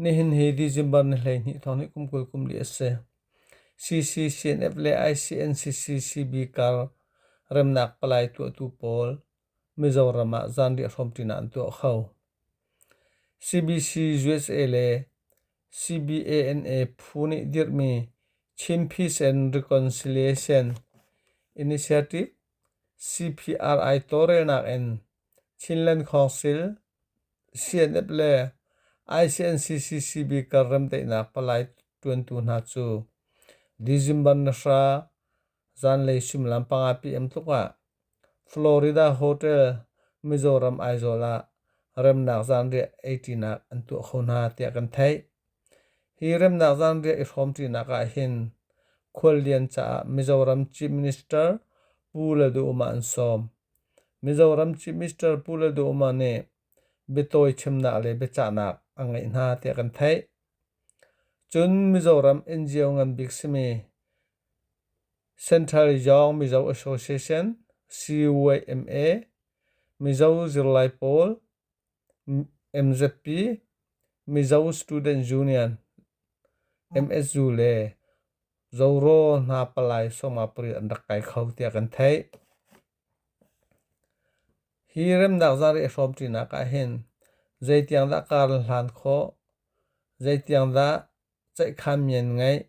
Nihin hi December ni hleihnih thawng hi kum kul kum li a si. CCCNF le ICNCC CB kar remnak palai tuahtu pawl Mizoram ah zanriah hrawmṭinak an tuah kho. CBC USA le CBANA phu nih dirhmi Chin Peace and Reconciliation Initiative CPRI tawlrelnak in Chinland Council, CNF le ICNCCCB kar remdaihnak palai ṭuantu hna cu December ni hra zanlei suimilam panga pm tluk ah Florida Hotel, Mizoram Aizawl ah remnak zanriah eiṭinak an tuah kho hna tiah kan theih. Hi remnak zanriah i hrawmṭinak ah hin khuallian caah Mizoram Chief Minister Pu Lalduhoma an sawm. Mizoram cu Mr. Pu Lalduhoma nih biatawi chimnak le biacahnak a ngeih hna tiah kan theih. Cun Mizoram NGO ngan bik simi Central Young Mizo Association CYMA Mizo zirlai pawl MZP Mizo Student Union MSU le Zoro hna palai sawma pariat an rak kai kho tiah kan theih. Hi remnak zarih a hrawm ṭinak ah hin zeitiang dah kar an hlan khawh, zeitiang dah ceihkhan mi an ngeih,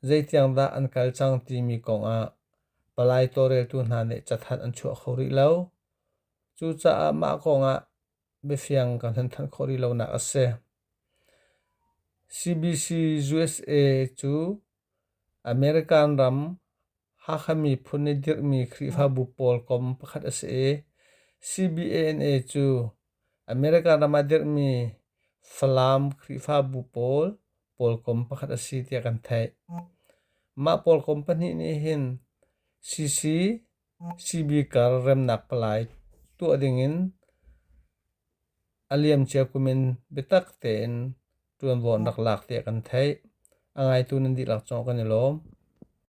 zeitiang dah an kal cang timi kong ah palai tawlreltu hna nih cathanh an chuah kho rih lo. Cucaah mah kong ah biafiang ka hnan thanh khawh rih lonak a si. CBC USA cu American ram Hakha miphun i dirhmi Khrihfabu pawl kom pakhat a si i CBANA cu American ram ah dirhmi Falam Khrihfabu pawl pawlkom pakhat a si tiah kan theih. Mah pawlkom pahnih nih hin CC Sibikar remnak palai tuah dingin a liamcia kum in biatak tein ṭuanvo an rak lak tiah kan theih. A ngaitu nan dihlak zong kan i lawm.